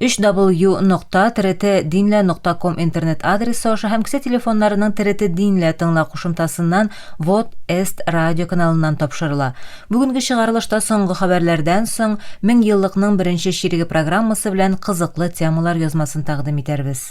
Өч дабл-ю нокта тире-те динлә нокта ком интернет адресы аша һәм кесә телефоннарының тире-те динлә тыңла кушымтасыннан Вот эст радио каналыннан тапшырыла. Бүгенге чыгарылышта соңгы хәбәрләрдән соң Мең еллыкның беренче чиреге программасы белән кызыклы темалар язмасын тәкъдим итәрбез.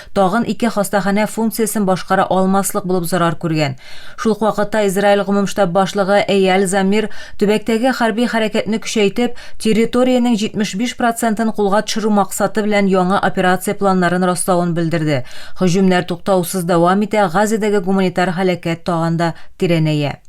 Тагын ике хастаханә функциясен башкара алмаслык булып зарар күргән. Шул ук вакытта Израиль гомум штаб башлыгы Эйаль Замир төбәктәге хәрби хәрәкәтне көчәйтеп, территориянең 75 процентын кулга төшерү максаты белән яңа операция планнарын раславын белдерде. Һөҗүмнәр туктаусыз дәвам итә, Газадәге гуманитар һәлакәт тагын да тирәнәя.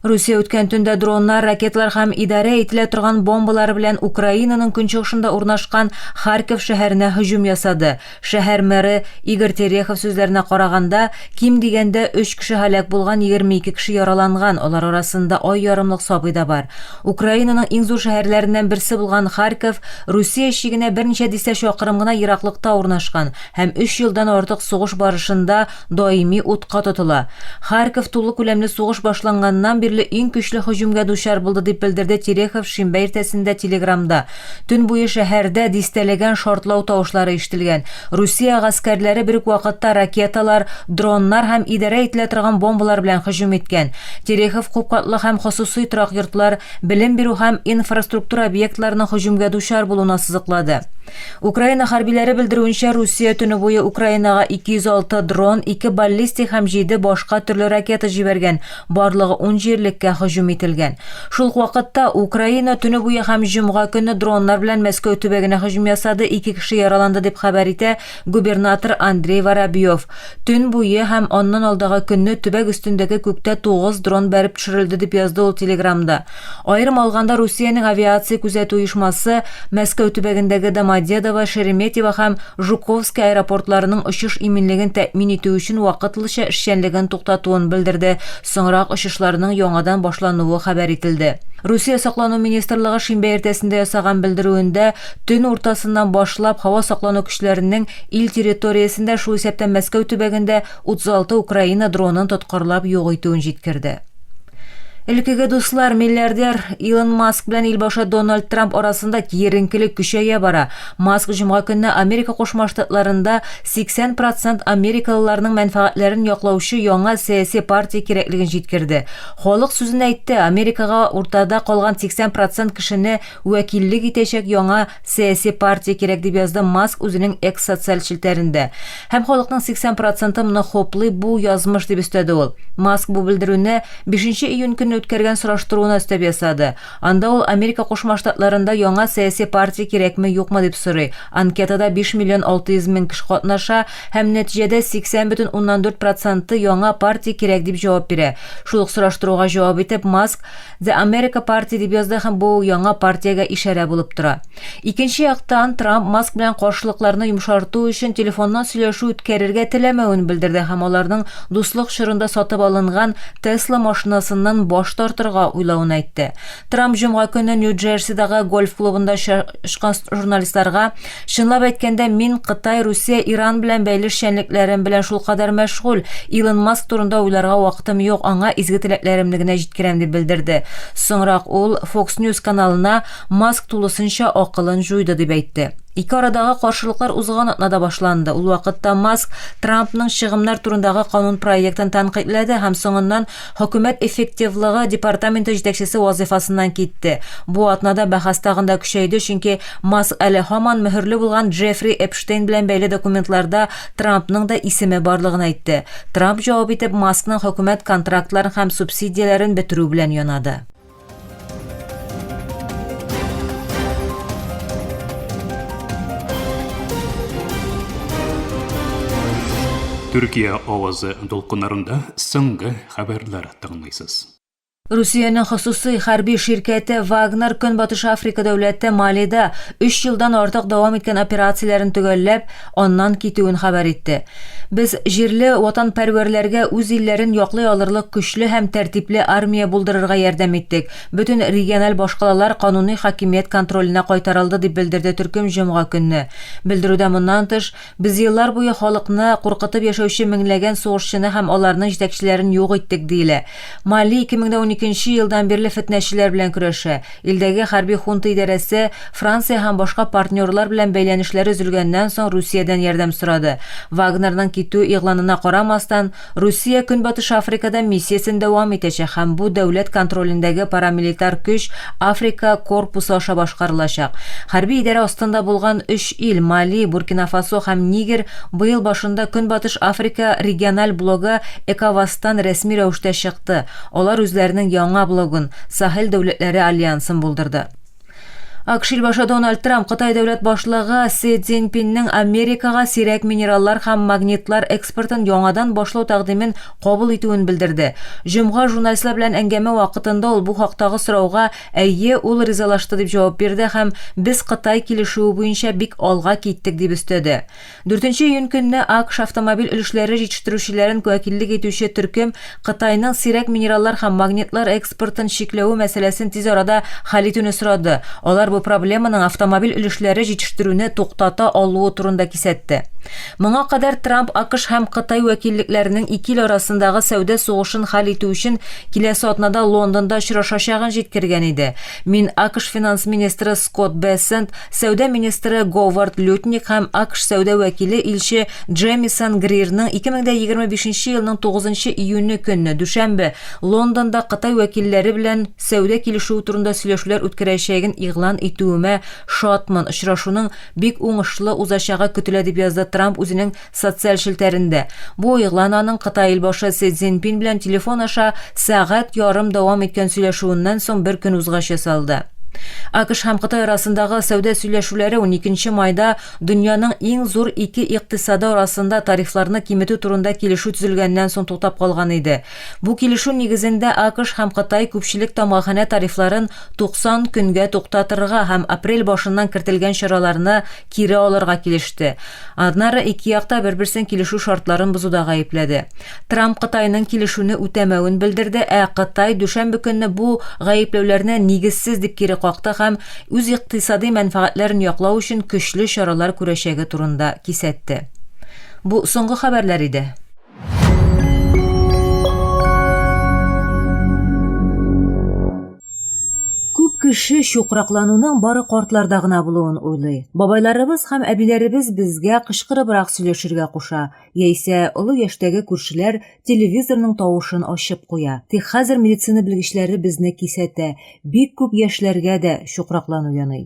Русия үткән төндә дроннар, ракетлар һәм идарә ителә торган бомбалар белән Украинаның көнчыгышында урнашкан Харьков шәһәренә һөҗүм ясады. Шәһәр мэры Игорь Терехов сүзләренә караганда, ким дигәндә 3 кеше һәлак булган, 22 кеше яраланган, алар арасында ай ярымлык сабый да бар. Украинаның иң зур шәһәрләреннән берсе булган Харьков Русия чигенә берничә дистә чакрым гына ераклыкта урнашкан һәм өч елдан артык сугыш барышында даими утка тотыла. Харьков тулы күләмле сугыш башланганнан бирле иң көчле һөҗүмгә дучар булды, дип белдерде Терехов шимбә иртәсендә Телеграмда. Төн буе шәһәрдә дистәләгән шартлау тавышлары ишетелгән. Русия гаскәрләре бер үк вакытта ракеталар, дроннар һәм идарә ителә торган бомбалар белән һөҗүм иткән. Терехов күпкатлы һәм хосусый торак йортлар, белем бирү һәм инфраструктура объектларының һөҗүмгә дучар булуына сызыклады. Украина хәрбиләре белдерүенчә, Русия төне буе Украинага 206 дрон, ике баллистик һәм җиде башка төрле ракета җибәргән, барлыгы ун җирлеккә һөҗүм ителгән. Шул ук вакытта, Украина төне буе һәм җомга көнне дроннар белән Мәскәү төбәгенә һөҗүм ясады, ике кеше яраланды, дип хәбәр итә губернатор Андрей Воробьев. Төн буе һәм аннан алдагы көнне төбәк өстендәге күктә тугыз дрон бәреп төшерелде, дип язды ул Телеграмда. Аерым алганда, Русиянең авиация күзәтү оешмасы Мәскәү төбәгендәге Домодедово, Шереметьево һәм Жуковский аэропортларының очыш иминлеген тәэмин итү өчен вакытлыча эшчәнлеген туктатуын белдерде, соңрак очышларның яңадан башлануы хәбәр ителде. Русия саклану министрлыгы шимбә иртәсендә ясаган белдерүендә, төн уртасыннан башлап һава саклану көчләренең ил территориясендә, шул исәптән Мәскәү төбәгендә 36 Украина дронын тоткарлап юк итүен җиткерде. Элеккеге дуслар, миллиардер Илон Маск белән илбашы Дональд Трамп арасында киеренкелек көчәя бара. Маск җомга көнне Америка Кушма Штатларында 80 процент америкалыларның мәнфәгатьләрен яклаучы яңа сәяси партия кирәклеген җиткерде. Халык сүзен әйтте, Америкага уртада калган 80 процент кешене вәкиллек итәчәк яңа сәяси партия кирәк, дип язды Маск үзенең X социаль челтәрендә. Һәм халыкның 80 проценты моны хуплый, бу, язмыш, дип өстәде ул. Маск бу белдерүне бишенче июнь көнне үткәргән сораштыруына өстәп ясады. Анда ул Америка Кушма Штатларында яңа сәяси партия кирәкме-юкмы дип сорый. Анкетада биш миллион алты йөз мең кеше катнаша, һәм нәтиҗәдә 80 бөтен уннан дүрт проценты яңа партия кирәк дип җавап бирә. Шул ук сораштыруга җавап итеп, Маск, The America Party дип язды һәм бу яңа партиягә ишарә булып тора. Икенче яктан, Трамп Маск белән каршылыкларны йомшарту өчен телефоннан сөйләшү үткәрергә теләмәвен белдерде һәм аларның дуслык чорында сатып алынган Tesla машинасыннан баш тартырга уйлавын әйтте. Трамп җомга көне Нью-Джерсидагы гольф клубында очрашкан журналистларга Чынлап әйткәндә, мин Кытай, Русия, Иран белән бәйле эшчәнлекләрем белән шулкадәр мәшгуль, Илон Маск турында уйларга вакытым юк, аңа изге теләкләремне генә җиткерәм, дип белдерде. Соңрак ул Fox News каналына Маск тулысынча акылын җуйды, дип әйтте. Ике арадагы каршылыклар узган атнада башланды. Ул вакытта Маск Трампның чыгымнар турындагы канун проектын тәнкыйтьләде һәм соңыннан Хөкүмәт эффективлыгы департаменты җитәкчесе вазыйфасыннан китте. Бу атнада бәхәс тагын да көчәйде, чөнки Маск әле һаман мөһерле булган Джеффри Эпштейн белән бәйле документларда Трампның да исеме барлыгын әйтте. Трамп җавап итеп Маскның хөкүмәт контрактларын һәм субсидияләрен бетерү белән янады. Төркия авазы дулкыннарында соңгы хәбәрләр тыңлыйсыз. Русиянең хосусый хәрби ширкәте Вагнер Көнбатыш Африка дәүләте Малида 3 елдан артык дәвам иткән операцияләрен төгәлләп, аннан китүен хәбәр итте. Без җирле ватанпәрвәрләргә үз илләрен яклый алырлык көчле һәм тәртипле армия булдырырга ярдәм иттек, бөтен региональ башкалалар кануни хакимият контроленә кайтарылды, дип белдерде төркем җомга көнне. Белдерүдә моннан тыш, Без еллар буе халыкны куркытып яшәүче меңләгән сугышчыны һәм аларның җитәкчеләрен юк иттек, диелә. Мали 2012 елдан бирле фетнәчеләр белән көрәшә. Илдәге хәрби хунта идарәсе Франция һәм башка партнерлар белән бәйләнешләре өзелгәннән соң Русиядән ярдәм сорады. Вагнерның китү игъланына карамастан, Русия Көнбатыш Африкада миссиясен дәвам итәчәк һәм бу дәүләт контролендәге парамилитар көч Африка корпусы аша башкарылачак. Хәрби идарә астында булган өч ил, Мали, Буркина-Фасо һәм Нигер, быел башында Көнбатыш Африка региональ блогы Эковазтан рәсми рәвештә чыкты, алар үзләренең яңа блогын, Сахел дәүләтләре альянсын булдырды. АКШ илбашы Дональд Трамп Кытай дәүләт башлыгы Си Цзиньпиннең Америкага сирәк минераллар һәм магнитлар экспортын яңадан башлау тәкъдимен кабул итүен белдерде. Җомга журналистлар белән әңгәмә вакытында ул бу хактагы сорауга Әйе, ул ризалашты дип җавап бирде һәм Без Кытай килешүе буенча бик алга киттек дип өстәде. Дүртенче июнь көнне АКШ автомобиль өлешләре җитештерүчеләрен вәкиллек итүче төркем Кытайның сирәк минераллар һәм магнитлар экспортын чикләве мәсьәләсен тиз арада хәл итүне сорады, алар бу проблеманың автомобиль өлешләре җитештерүне туктата алуы турында кисәтте. Моңа кадәр Трамп АКШ һәм Кытай вәкиллекләренең ике ил арасындагы сәүдә сугышын хәл итү өчен киләсе атнада Лондонда очрашачагын җиткергән иде, Мин АКШ финанс министры Скотт Бессент, сәүдә министры Говард Лютник һәм АКШ сәүдә вәкиле илче Джемисон Грирның 2025 елның 9 июне көнне, дүшәмбе, Лондонда Кытай вәкилләре белән сәүдә килешүе турында сөйләшүләр үткәрәчәген игълан итүемә шатмын, очрашуның бик уңышлы узачагы көтелә, дип язды Трамп үзенең Социаль челтәрендә бу игълан аның Кытай илбашы Си Цзиньпин белән телефон аша сәгать ярым дәвам иткән сөйләшүеннән соң бер көн узгач ясалды. АКШ һәм Кытай арасындагы сәүдә сөйләшүләре уникенче майда дөньяның иң зур ике икътисады арасында тарифларны киметү турында килешү төзелгәннән соң туктап калган иде. Бу килешү нигезендә АКШ һәм Кытай күпчелек тамгаханә тарифларын 90 көнгә туктатырга һәм апрель башыннан кертелгән чараларны кире алырга килеште. Аннары ике як та бер-берсен килешү шартларын бозуда гаепләде. Трамп Кытайның килешүне үтәмәвен белдерде, ә Кытай дүшәмбе көнне бу гаепләүләрне нигезсез дип кире какты һәм үз икътисади мәнфәгатьләрен яклау өчен көчле чаралар күрәчәге турында кисәтте. Бу соңгы хәбәрләр иде. кеше чукраклануның бары картларда гына булуын уйлый. Бабайларыбыз һәм әбиләребез безгә кычкырыбрак сөйләшергә куша, яисә олы яшьтәге күршеләр телевизорның тавышын ачып куя. Тик хәзер медицина белгечләре безне кисәтә, бик күп яшьләргә дә чукраклану яный.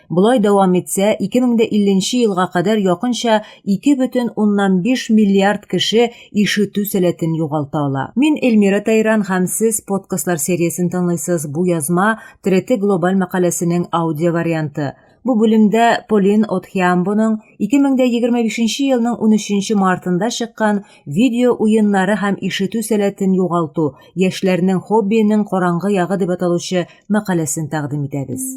Болай дәвам итсә, 2050 елга кадәр якынча 2,5 миллиард кеше ишетү сәләтен югалта ала. Мин Эльмира Тайран һәм сез подкастлар сериясен тыңлыйсыз. Бу язма Треты глобаль мәкаләсенең аудио варианты. Бу бүлемдә Полин Отхиамбоның 2025 елның 13 мартында чыккан Видео уеннары һәм ишетү сәләтен югалту, яшьләрнең хоббиенең караңгы ягы дип аталучы мәкаләсен тәкъдим итәбез.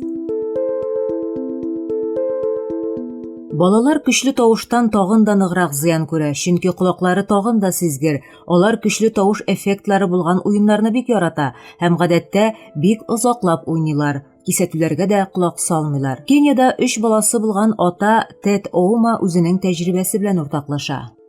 Балалар көчле тавыштан тагын да ныграк зыян күрә, чөнки колаклары тагын да сизгер. Алар көчле тавыш эффектлары булган уеннарны бик ярата һәм гадәттә бик озаклап уйныйлар. Кисәтүләргә дә колак салмыйлар. Кениядә өч баласы булган ата Тед Оума үзенең тәҗрибәсе белән уртаклаша.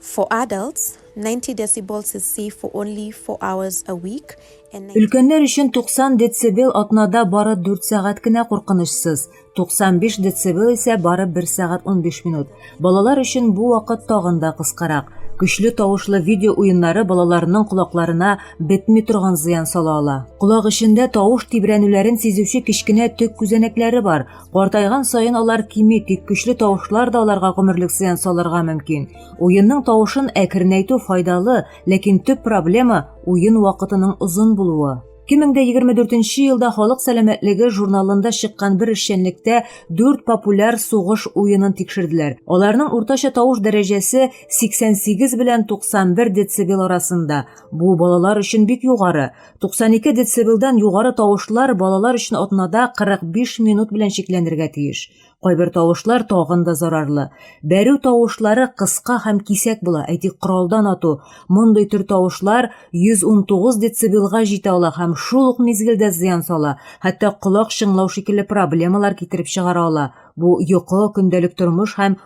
For adults, 90 decibels is safe for only four hours a week and Өлкәннәр өчен 90 децибел атнада бары 4 сәгать кенә куркынычсыз, 95 децибел исә бары 1 сәгать 15 минут. Балалар өчен бу вакыт тагын да кыскарак. Көчле тавышлы видео уеннары балаларның колакларына бетми торган зыян сала ала. Колак эчендә тавыш тибрәнүләрен сизүче кечкенә төк күзәнәкләре бар. Картайган саен алар кими, тик көчле тавышлар да аларга гомерлек зыян салырга мөмкин. Уенның тавышын әкренәйтү файдалы, ләкин төп проблема уен вакытының озын булуы. 2024 елда Халык сәламәтлеге журналында чыккан бер эшчәнлектә 4 популяр сугыш уенын тикшерделәр. Аларның уртача тавыш дәрәҗәсе 88 белән 91 децибел арасында. Бу балалар өчен бик югары. 92 децибелдан югары тавышлар балалар өчен атнада 45 минут белән чикләнергә тиеш. Кайбер тавышлар тагын да зарарлы. Бәрү тавышлары кыска һәм кисәк була, әйтик, коралдан ату. Мондый төр тавышлар 119 децибелга җитә ала һәм шул ук мизгелдә зыян сала, хәтта колак чыңлау шикелле проблемалар китереп чыгара ала. Бу йокы, көндәлек тормыш һәм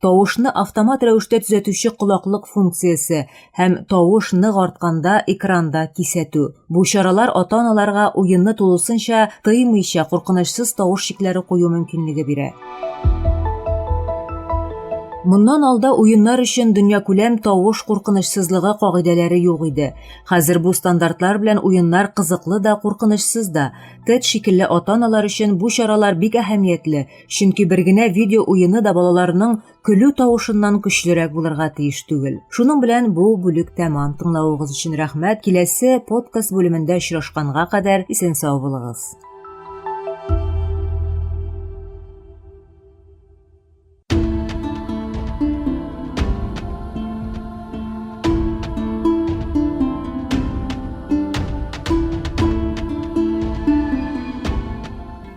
Тавышны автомат рәвештә төзәтүче колаклык функциясе һәм тавыш нык артканда экранда кисәтү. Бу чаралар ата-аналарга уенны тулысынча тыймыйча куркынычсыз тавыш чикләре кую мөмкинлеге бирә. Моннан алда уеннар өчен дөньякүләм тавыш куркынычсызлыгы кагыйдәләре юк иде. Хәзер бу стандартлар белән уеннар кызыклы да, куркынычсыз да. Тед шикелле ата-аналар өчен бу чаралар бик әһәмиятле, Чөнки бер генә видео уены да балаларның көлү тавышыннан көчлерәк булырга тиеш түгел. Шуның белән бу бүлек тәмам. Тыңлавыгыз өчен рәхмәт. Киләсе подкаст бүлемендә очрашканга кадәр исән сау булыгыз.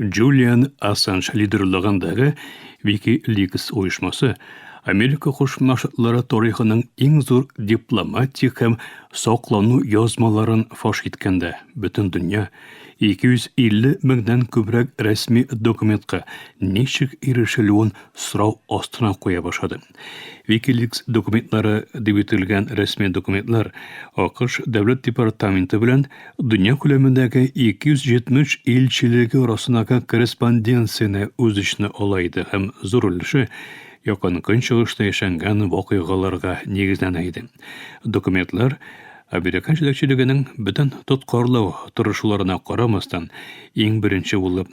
Джулиан Ассанж лидерлыгындагы Wikileaks оешмасы Америка Кушма Штатлары тарихының иң зур дипломатик һәм саклану язмаларын фаш иткәндә, бөтен дөнья 250 меңнән күбрәк рәсми документка ничек ирешелүен сорау астына куя башлады. Wikileaks документлары дип ителгән рәсми документлар АКШ дәүләт департаменты белән дөнья күләмендәге 270 илчелеге арасындагы корреспонденцияне үз эченә ала иде һәм зур өлеше Якын Көнчыгышта яшәнгән вакыйгаларга нигезләнә иде. Документлар американ җитәкчелегенең бөтен тоткарлау тырышуларына карамастан, иң беренче булып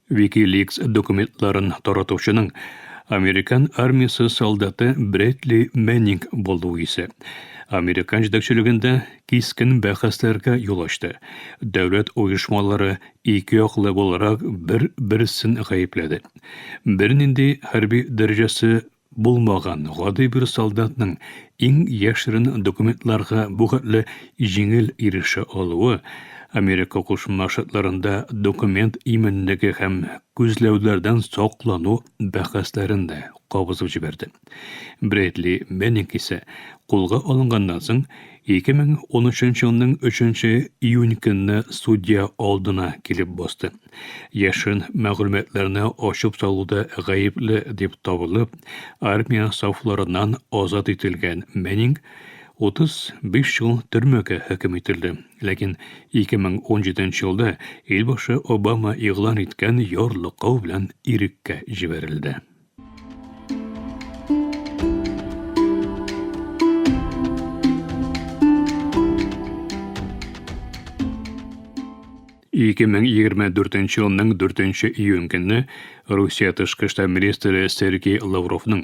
WikiLeaks документларын таратучының американ армиясе солдаты Брэдли Мэннинг булуы исә американ җитәкчелегендә кискен бәхәсләргә юл ачты. Дәүләт оешмалары ике яклы буларак бер-берсен гаепләде. Бернинди хәрби дәрәҗәсе булмаган гади бер солдатның иң яшерен документларга бу хәтле җиңел ирешә алуы, Америка Кушма Штатларында документ иминлеге һәм күзләүләрдән саклану бәхәсләрен дә кабызып җибәрде. Брэдли Менник исә кулга алынганнан соң 2013 елның 3 июнь көнне судья алдына килеп басты. Яшен мәгълүматларны ачып салуда гаепле дип табылып, армия сафларыннан азат ителгән Мэнинг 35 ел төрмәгә хөкем ителде. Ләкин 2017 елда илбашы Обама игълан иткән ярлыкау белән иреккә җибәрелде. Ике мең егерме дүртенче елның дүртенче июнь көне Русия тышкы эшләр министры Сергей Лавровның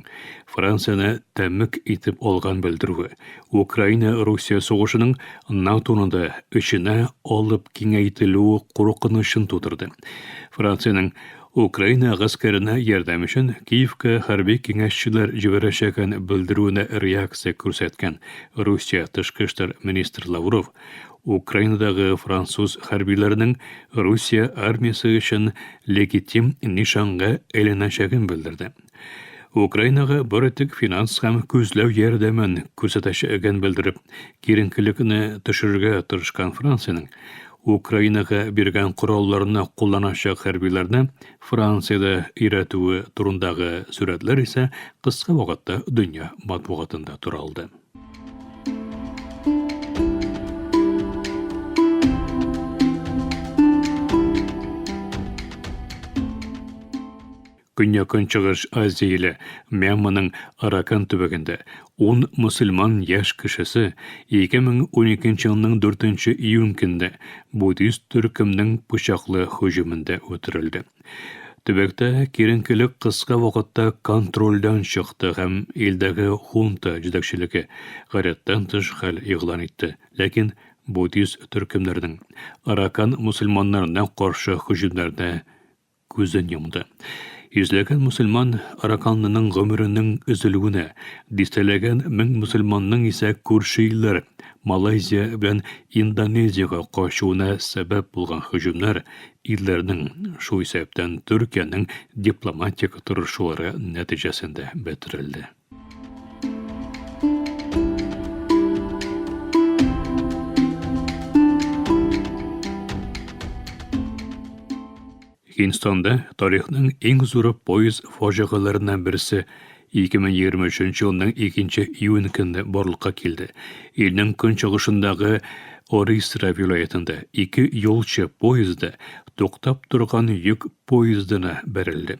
Францияне тәмік итеп алган белдерүе, Украина-Русия сугышының НАТОны да эченә алып киңәйтелүе куркынычын тудырды. Франциянең Украина гаскәренә ярдәм өчен Киевка хәрби киңәшчеләр җибәрәчәген белдерүенә реакция күрсәткән Русия тышкы эшләр министры Лавров Украинадагы француз хәрбиләренең Русия армиясе өчен легитим нишанга әйләнәчәген белдерде. Украинага бары тик финанс һәм күзләү ярдәмен күрсәтәчәген белдереп, киеренкелекне төшерергә тырышкан Франциянең Украинага биргән коралларны кулланачак хәрбиләрне Франциядә өйрәтүе турындагы сурәтләр исә кыска вакытта дөнья матбугатында туралды. Көньяк-Көнчыгыш Азияле Мьянманың Аракан төбәгендә 10 мөселман яшь кешесе 2012 елның 4 июнь көнне буддист төркемнең пычаклы һөҗүмендә үтерелде. Төбәктә киеренкелек кыска вакытта контрольдән чыкты һәм илдәге хунта җитәкчелеге гадәттән тыш хәл игълан итте. Ләкин буддист төркемнәрнең Аракан мөселманнарына каршы һөҗүмнәренә Күзен йомды. Йөзләгән мөселман Раканлының гомеренең өзелүенә, дистәләгән мең мөселманның исә күрше илләр, Малайзия белән Индонезиягә качуына сәбәп булган һөҗүмнәр, илләрнең, шул исәптән Төркиянең дипломатик тырышулары нәтиҗәсендә бетерелде. Инстанда тарихның иң зур пояс фаҗигаларыннан берсе 2023 елның 2 июнь көнне барлыкка килде. Илнең көнчыгышындагы Орисра вилаятында ике юлчы поезды туктап торган йөк поездына бәрелде.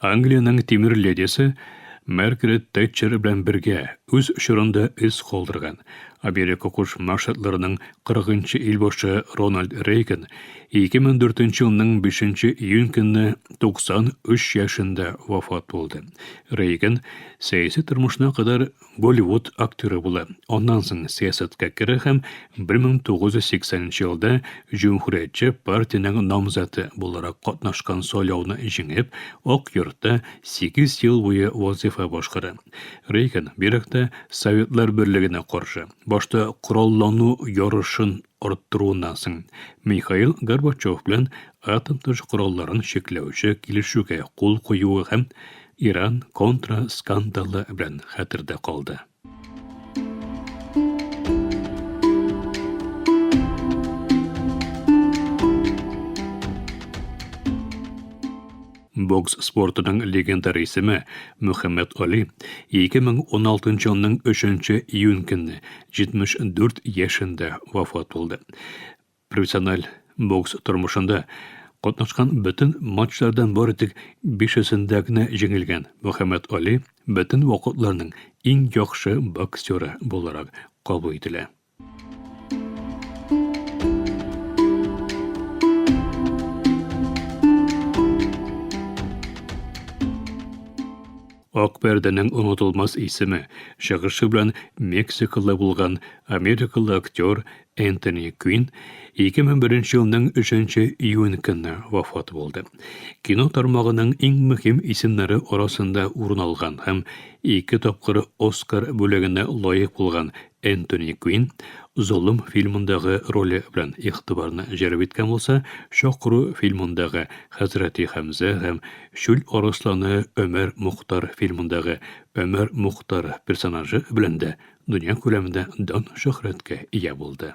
Англиянең тимер ледисе Маргарет Тэтчер белән бергә үз чорында эз калдырган Америка Кушма Штатларының 40 ел башы Рональд Рейган 2004 елның 5 июнь көнне 93 яшендә вафат булды. Рейган сәяси тормышына кадәр Голливуд актеры була. Аннан соң сәясәткә керә һәм 1980 елда Җөмһүриятче партиянең намзаты буларак катнашкан сайлауны җиңеп, Ак йортта 8 ел буе вазифа башкара. Рейган бигрәк тә Советлар берлегенә каршы, башта кораллану ярышын арттыруыннан соң, Михаил Горбачев белән атом тотыш коралларын чикләүче килешүгә кул куюы һәм Иран контра скандалы белән хәтердә калды. Бокс спортының легендар исеме Мөхәммәт Али 2016 елның 3 июнь көнне 74 яшендә вафат булды. Профессиональ бокс тормышында катнашкан бөтен матчлардан бары тик бишесендә генә җиңелгән Мөхәммәт Али бөтен вакытларның иң яхшы боксеры буларак кабул ителә. Акберденең онытылмас исеме чыгышы белән Мексикалы булган америкалы актер Энтони Квин 2001 елның 3 июнь көнне вафат булды. Кино тармагының иң мөһим исемнәре арасында урын алган һәм ике тапкыр Оскар бүлегенә лаек булган Энтони Квин Золым фильмындагы роле белән игътибарны җәлеп иткән булса, Чокру фильмындагы Хәзрәти Хәмзә һәм Чүл арысланы Өмәр Мухтар фильмындагы Өмәр Мухтар персонажы белән дә дөнья күләмендә дан-шөһрәткә ия булды.